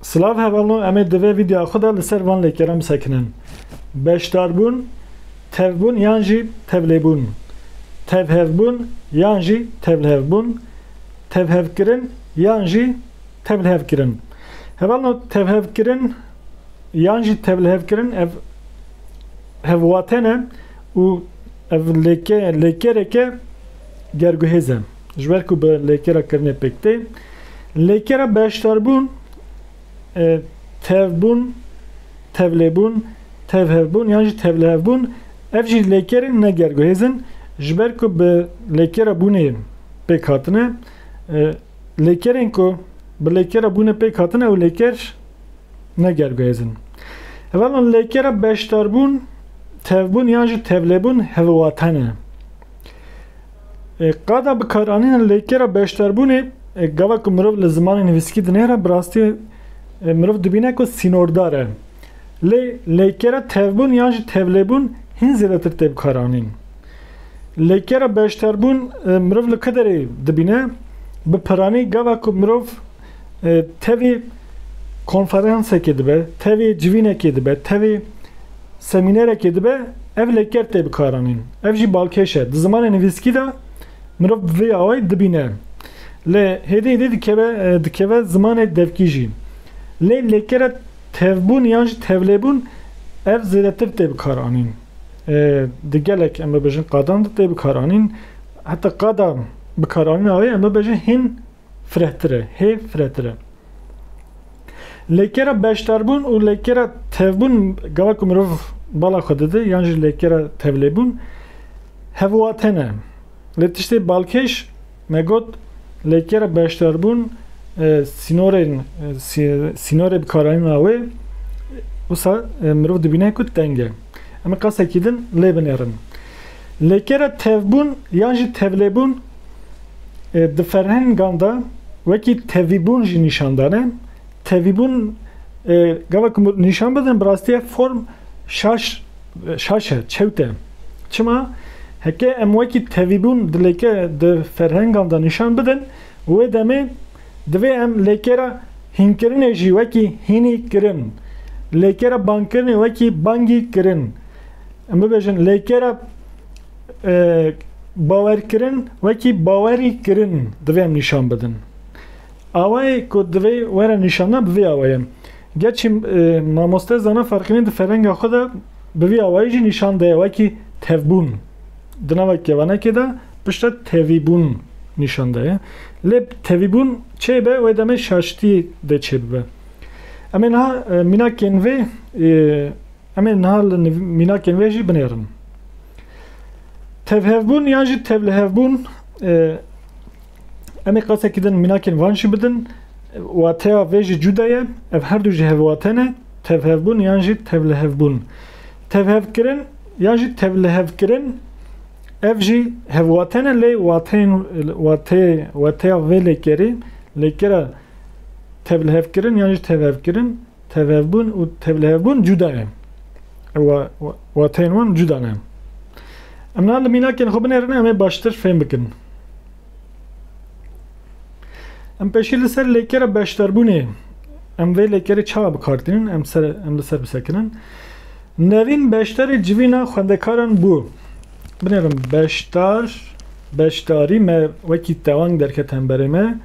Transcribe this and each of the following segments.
Slav hevalno emê di vê vîdyoya xwe de li ser van lêkeran bisekinin. Beşdarbûn, tevbûn yan jî tevlêbûn. Tevhevbûn yan jî tevlhevbûn. Tevhevkirin yan jî tevlhevkirin. Hevalno tevhevkirin yan jî tevlhevkirin ev hevwatene Û ev lêke lêkereke gerguhêz e. Ji ber ku bi lêkera kirinê pêk tê. Lêkera beşdarbûn, e, tevbûn, tevlêbûn, tevhevbûn yan jî tevlihevbûn ev jî lêkerên ne gerguhêz in. Ji ber ku bi lêkera bûnê pêk hatine. E, lêkerên ku bi lêkera bûnê pêk hatine ew lêker, ne gelbêzin. Hevalên lêkê re beşdarbûn, tevbûn yan jî tevlêbûn hilwate ne. Qada bikaranîna lêkê re beşdarbûnê gava ku mirov li zimanê nivîskî dinêre bi rastî mirov dibîne ku sînordar e. Lê lêkê re tevbûn yan jî tevlêbûn hîn zêdetir tê bikaranîn. Lêkê re beşdarbûn mirov li ku derê dibîne bi piranî gava ku mirov Tevî konferansekê dibe, tevî civînekê dibe, tevî semînerekê dibe, ev lêker tê bikaranîn. Ev jî balkêş e. Di zimanê nivîskî de mirov bi vê awayî dibîne. Lê hêdî hêdî dikeve dikeve zimanê devkî jî. Lê lêkere tevbûn yan jî tevlêbûn ev zêdetir tê bikaranîn. Di gelek em bibêjin qadan de tê bikaranîn. Heta qada bikaranîna wê em bibêjin hîn firehtir e, hê firehtir e. Lêkera beşdarbûn û lêkera tevbûn gava ku mirov bala xwe dide yan jî lêkera tevlêbûn hevwate ne. Lê tiştê balkêş me got lêkera beşdarbûn sînorên sînorê bikaranîna wê wisa mirov dibîne ku teng e. Em qasekî din lê binêrin. Lê kere tevbûn yan jî tevlêbûn di ferhengan de wekî tevîbûn jî nîşan dane. Tevîbûn gava ku nîşan bidin bi rastîya form şaş şaş e, çewt e. Çima? Heke em wekî tevîbûn di lêke di ferhengan de nîşan bidin, wê demê Divê em lêkera hînkirinê jî wekî hînî kirin, lêkera bangkirinê wekî bangî kirin, em bibêjin lêkera bawerkirin wekî bawerî kirin divê em nîşan bidin. Awayê ku divê were nîşandina bi vî awayê ye. Gerçî mamoste Zana Ferqînî di ferenga xwe de bi vî awayî jî nîşan daye wekî tevbûn. Di nava kevanekê de piştre tevîbûn nîşan daye. Lê tevîbûn çê be wê demê şaştî dê çê bibe. Em ê niha mînakên vê em ê niha li mînakên vê jî binêrin. Tevhevbûn yan jî tevlihevbûn em ê qesekî din mînakên van jî bidin. Wateya vê jî cuda ye. Ev her du jî hevwate ne. Tevhevbûn yan jî tevlihevbûn. Tevhevkirin ya jî tevlihevkirin ev jî hevwate ne lê wateyên wateyê wateya vê lêkerê lêkera tevlihevkirin yan jî tevhevkirin tevhevbûn û tevlihevbûn cuda ye. Ew wateyên wan cuda ne. Em niha li mînakên xwe binêrin em ê baştir fêm bikin. Em peşî li ser lêkera beşdarbûnê em vê lêkerê çawa bikartînin em ser em li ser bisekirin. Nevîn beşdarê civîna xwendekaran bû. Binêrim beşdar beşdarî me wekî tewang derket hemberê me.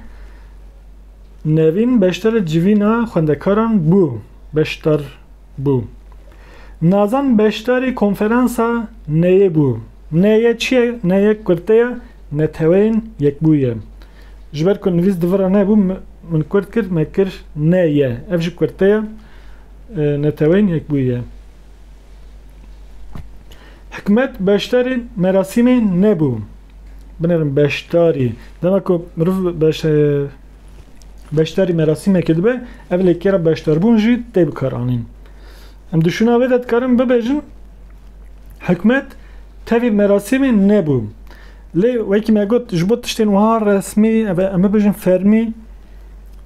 Nevîn beşdarê civîna xwendekaran bû. Beşdar bû. Nazan beşdarî konferansa neyê bû. Neye çi ye? Neye kurte ye, Neteweyên Yekbûyî ye. Ji ber ku nivîs di vir re nebû min kurt kir, me kir neye. Ev jî kurte ye, Neteweyên Yekbûyî ye. Hikmet beşdarî merasîmê nebû. Binêrin beşdarî. Dema ku mirov beşdarî. beşdarî merasîmekê dibe ev lêkêra beşdarbûn jî tê bikaranîn. Em di şûna wê de dikarin bibêjin hikûmet tevî merasîmê nebû. Lê wekî me got ji bo tiştên wiha resmî ev em bibêjin fermî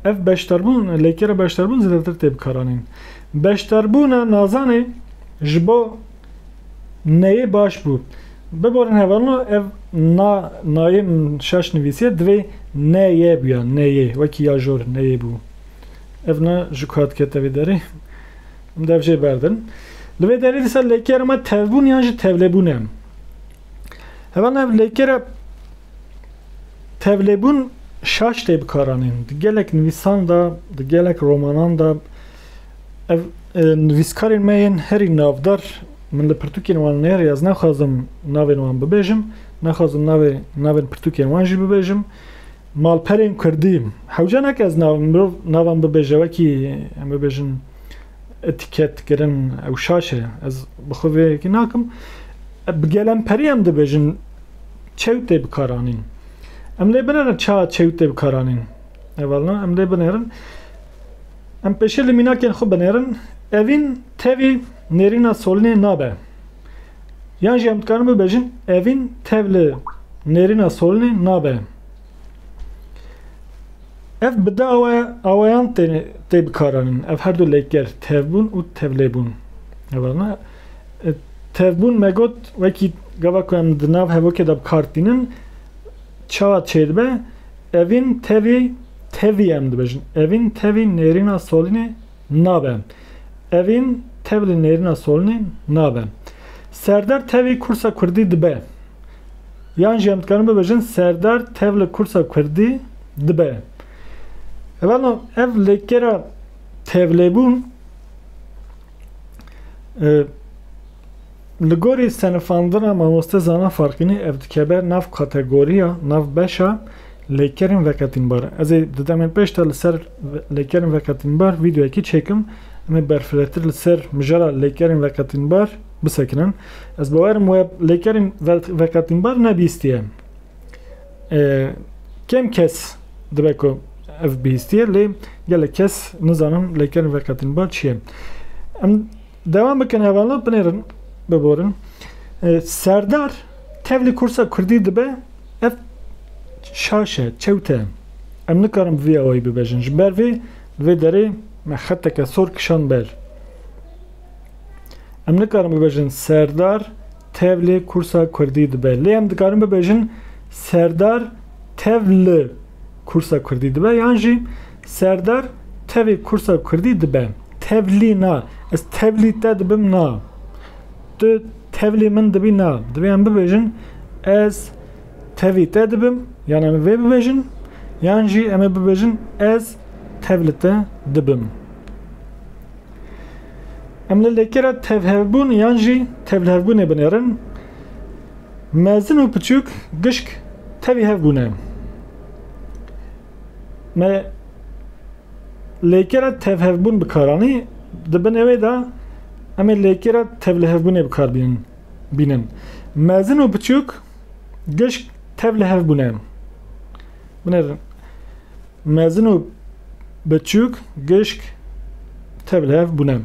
ev beşdarbûn lêkêra beşdarbûn zêdetir tê bikaranîn. Beşdarbûna nazanê ji bo Neyê baş bû. Biborin hevalino ev na nayê şaş nivîsîye divê ne-ye bûya, neyê, wekî ya jor, neyê bû. Ev na ji ku hat kete vê derê. Em dev jê berdin. Li vê derê dîsa lêkera me tevbûn yan jî tevlêbûn e. Hevalino ev lêkera tevlêbûn şaş tê bikaranîn. Di gelek nivîsan de, di gelek romanan de. Ev nivîskarên me yên herî navdar, min li pirtûkên wan nêr ya ez naxwazim navên wan bibêjim, naxwazim navê navên pirtûkên wan jî bibêjim. Malperên kurdî, hewce nake ez nav mirov navan bibêje wekî em bibêjin etiket kirin ew şaş e ez bi xwe vê yekê nakim. Bi gelemperî em dibêjin çew tê bikaranîn. Em lê binêrin çawa çew tê bikaranîn. Hevalina em lê binêrin. Em pêşî li mînakên xwe binêrin. Evîn tevî nêrîna solinê nabe. Yan jî em dikarin bibêjin evîn tev li nêrîna solinê nabe. Ev bi du awe aweyan tê bikaranin. Ev her du lêker tevbûn û tevlêbûn. Hevalna tevbûn me got wekî gava ku em di nav hevokê de bikar tînin çawa çêdibe. Evîn tevî tevî em dibêjin. Evîn tevî nêrîna solînê nabe. Evîn tevli nêrîna solînê nabe. Serdar tevî kursa kurdî dibe. Yan jî em dikarin bibêjin serdar tevli kursa kurdî dibe. Evelno ev lêkera tevlêbûn e, Li gorî senifandina mamoste Zana Farqînî ev dikeve nav kategoriya, nav beşa lêkerên veqetînbar. Ez ê di demên pêş de li ser lêkerên veqetînbar vîdeoyekî çêkim. Em ê berfirehtir li ser mijara lêkerên veqetînbar bisekinin. Ez bawer im we lêkerên veqetînbar nebîstiye. Kêm kes dibe ku ev bihîstiye lê gelek kes nizanin lêkerên veqetînbar çi ye. Em Dewam bikin hevalno binêrin biborin. Serdar tevlî kursa Kurdî dibe ev şaş e, çewt e. Em nikarin bi vî awayî bibêjin. Ji ber vê li vê derê me xeteke sor kişand ber. Em nikarin bibêjin Serdar tevlê kursa Kurdî dibe. Lê em dikarin bibêjin Serdar tev li kursa Kurdî dibe yan jî Serdar, Tevê kursa kurdî dibe. Tevlî na. Ez tevlî te dibim na. Tu tevlî min dibî na. Divê em bibêjin ez tevî te dibim yan em ê vê bibêjin yan jî em ê bibêjin ez tevli te dibim. Em li lêkera tevhevbûn yan jî tevlihevbûnê binêrin. Mezin û piçûk gişk tevî hev bûne. Me lêkera tevhevbûn bi kar anî, di binê wê de em ê lêkera tevlihevbûnê bi kar bînin bînin. Mezin û biçûk gişk tevlihevbûn e. Binêrin. Mezin û biçûk gişk tevlihevbûn e.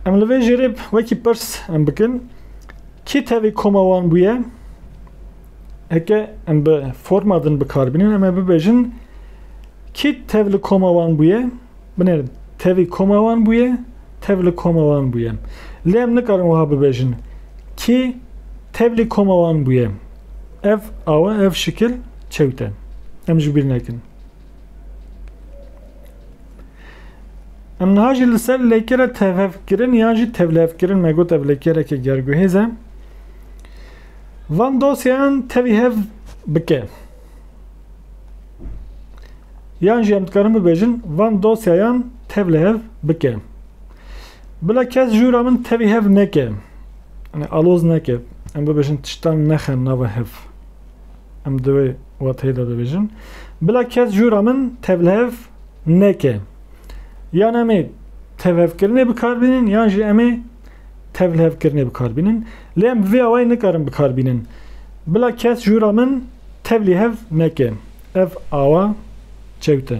Em li vê jêrê wekî pirs em bikin, kî tevî koma wan bûye? Eke em bi forma din bikarbînin em ê bibêjin kî tev li koma wan bûye binêrin tevî koma wan bûye tev li koma wan bûye. Lê em nikarin wiha bibêjin kî tevlî koma wan bûye. Ev awe ev şikil çewt e. Em ji bîr nekin. Em niha jî li ser lêkere tevhevkirin yan jî tevlevkirin me got ev lêkereke gerguhêz e. Van dosyeyan tevî hev bike. Yan jî em dikarin bibêjin van dosyeyan tev li hev bike. Bila kes jûra min tevî hev neke. Yani aloz neke. Em bibêjin tiştan nexin nava hev. Em divê wateyê de dibêjin. Bila kes jûra min tev li hev neke. Yan em ê tevhevkirinê bikar bînin yan jî em ê tevlhevkirinê bikar bînin. Lê em bi vê awayî nikarin bi kar bînin. Bila kes ji hûra min tevlî hev neke. Ev awa çewt e.